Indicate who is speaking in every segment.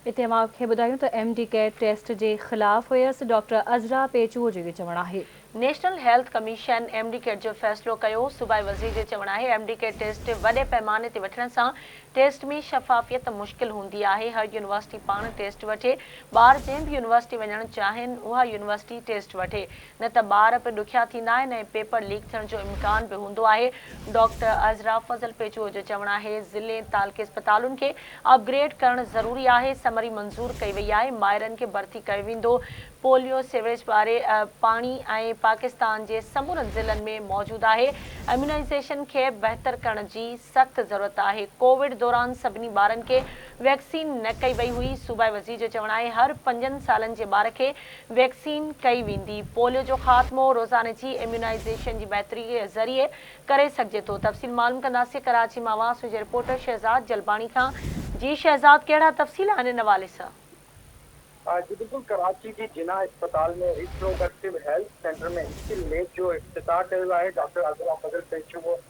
Speaker 1: اتي اوهان کي ٻڌايون ته ايم ڊي ڪيئر ٽيسٽ جي خلاف هيس ڊاڪٽر عذرا پيچوء جو اهو چوڻ آهي. National health
Speaker 2: commission M D ڪيئر جو فيصلو ڪيو، صوبائي وزير جو چوڻ آهي ايم ڊي ڪيئر ٽيسٽ وڏي پئماني تي وٺڻ سان ٽيسٽ ۾ شفافيت مشڪل هوندي آهي، هر يونيورسٽي پاڻ ٽيسٽ وٺي، ٻار جنهن به يونيورسٽي وڃڻ چاهين اها يونيورسٽي ٽيسٽ وٺي، نه ته ٻار به ڏکيا ٿيندا آهن ۽ پيپر ليڪ ٿيڻ جو امڪان به هوندو آهي. ڊاڪٽر عذرا فضل پيچوء جو چوڻ آهي ضلعي ۽ تعلقي اسپتالن کي اپ گريڊ ڪرڻ ضروري آهي، سمري منظور ڪئي وئي آهي، مائرن کي ڀرتي ڪيو ويندو، پوليو، سيوريج واري پاڻي ۽ پاڪستان جي سمورن ضلعن ۾ موجود آهي، اميونائيزيشن کي بهتر ڪرڻ جي سخت ضرورت آهي، ڪووڊ دوران سڀني ٻارن کي ويڪسين نه ڪئي وئي هئي، صوبائي وزير جو چوڻ آهي هر پنجن سالن جي ٻار کي ويڪسين ڪئي ويندي. پوليو جو خاتمو روزاني جي اميونائيزيشن جي بهتري ذريعي ڪري سگهجي ٿو تفصيل معلوم ڪنداسين ڪراچي مان واسو جي رپورٽر شهزاد جلباڻي کان. جي شهزاد ڪهڙا تفصيل آهن ان حوالي سان.
Speaker 3: جي بلڪل ڪراچي جي جناح اسپتال ۾ reproductive health centre ۾ skill lab جو افتتاح ڪيو آهي ڊاڪٽر عبدالله فضل پيشو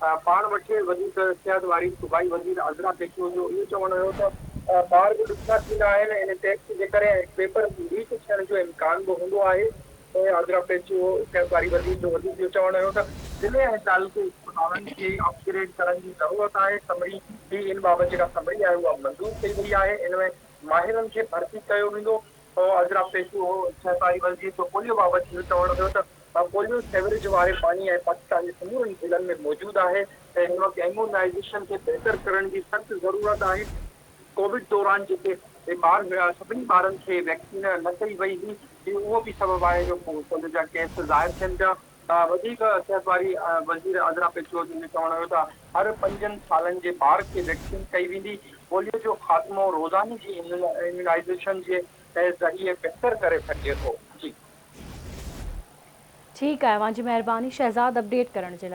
Speaker 3: پاڻ وٽي وڌيڪ اختياريت واري صوبائي وزير عذرا پيشو جو اهو چوڻ هيو ته ٻار به ڏکيا ٿيندا آهن ان ٽيسٽ جي ڪري ۽ پيپر ليڪ ٿيڻ جو امڪان به هوندو آهي عذرا پيشو صحت واري وزير جو وڌيڪ اهو چوڻ هيو ته ضلعي ۽ تعلقي اسپتالن کي اپ گريڊ ڪرڻ جي ضرورت آهي سمري ٻي ان بابت جيڪا سمري آهي اها منظور ڪئي وئي آهي ان ۾ ماهرن کي ڀرتي ڪيو ويندو سو اجرا پيشو هو جنهن ساري ولجيت جو پوليو بابت اهو چوڻ هيو ته پوليو سيوريج واري پاڻي ۽ پاڪستان جي سمورن ضلعن ۾ موجود آهي ۽ هن وقت ايمونائيزيشن کي بهتر ڪرڻ جي سخت ضرورت آهي، ڪووڊ دوران جيڪي به ٻار هيا سڀني ٻارن کي ويڪسين نه ڪئي وئي هئي، اهو به سبب آهي جو پوليو جا ڪيس ظاهر ٿين پيا، وڌيڪ صحت واري وزير عذرا پچوجي جو چوڻ هيو ته هر پنجن سالن جي ٻار کي ويڪسين ڪئي ويندي، پوليو جو خاتمو روزاني جي اميونائيزيشن جي ذريعي بهتر ڪري سگهجي ٿو. جي.
Speaker 1: ٺيڪ
Speaker 3: آهي اوهان
Speaker 1: جي مهرباني شهزاد
Speaker 3: اپڊيٽ
Speaker 1: ڪرڻ جي لاء.